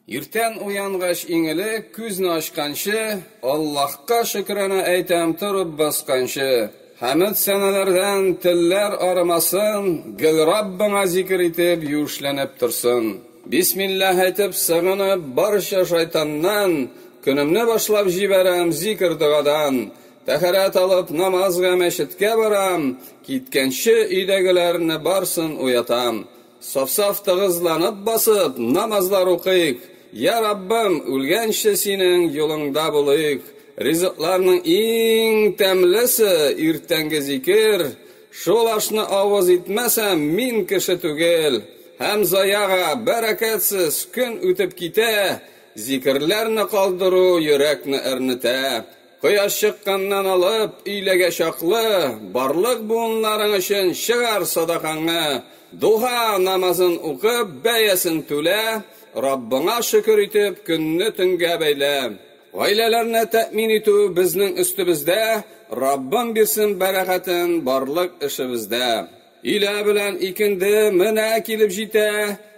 Иртән уянгач иң элек, күзне ачканчы, Аллаһка шөкранә әйтәм торып басканчы. Хәмед-сәналәрдән телләр арымасын, Гел Раббыңа зикер итеп, юешләнеп торсын. Бисмиллаһ әйтеп, сыгынып, барча шайтаннан, Көнемне башлап җибәрәм зикер-догадан. Тәһарәт алып, намазга мәчеткә барам, Киткәнче өйдәгеләрне барсын уятам. Саф-саф тыгызланып басып, намазлар укыйк. Йа Раббым, үлгәнче Синең юлыңда булыйк. Ризыкларның иң тәмлесе, иртәнге зикер. Шул ашны авыз итмәсәм, мин кеше түгел. Һәм заяга, бәрәкәтсез, көн үтеп китә. Зикерләрне калдыру йөрәкне әрнетә. Кояш чыкканнан алып, өйләгә чаклы, барлык буыннарың өчен чыгар садакаңны, дуһа намазын укып, бәясен түлә, Раббыңа шөкер итеп, көнне төнгә бәйлә. Гаиләләрне тәэмин итү безнең өстебездә, Раббым бирсен бәрәкәтен барлык эшебездә. Илә белән икенде менә килеп җитә,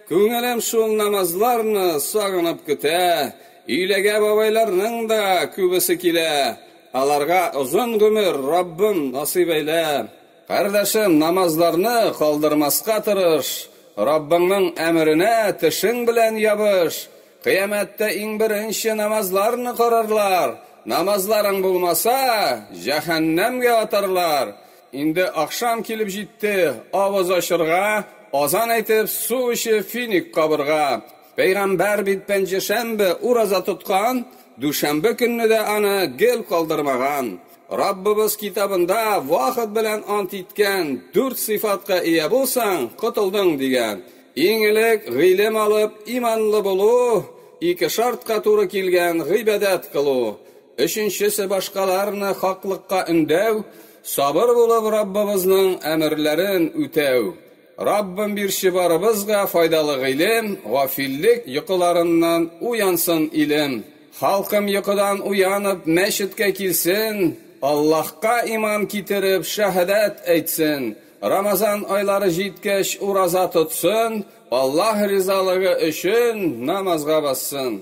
Күңелем шул намазларны сагынып көтә. Иләгә бабайларның да күбесе килә, Аларга озын гомер, Раббым, насыйп әйлә. Кардәшем, намазларны калдырмаска тырыш, Раббыңның әмеренә тешең белән ябыш. Кыямәттә иң беренче намазларны карарлар, Намазларың булмаса, җәһәннәмгә атарлар. Инде ахшам килеп җитте, авыз ачырга, азан әйтеп, су эчеп, финик кабырга. Пәйгамбәр бит пәнҗешәмбе ураза тоткан, дүшәмбе көнне дә аны гел калдырмаган. Раббыбыз китабында вахыт белән ант иткән, дүрт сыйфатка ия булсаң, котылдың, дигән. Иң элек, гыйлем алып, иманлы булу, ике шартка туры килгән, гыйбадәт кылу. Өченчесе башкаларны хаклыкка өндәү, сабыр булып Раббыбызның әмерләрен үтәү. Раббым бирче барыбызга файдалы гыйлем, гафиллек йокыларыннан уянсын илем. Халкым йокыдан уянып мәчеткә килсен, Аллаһка иман китереп шәһадәт әйтсен, Рамазан айлары җиткәч ураза тотсын, Аллаһ ризалыгы өчен намазга бассын.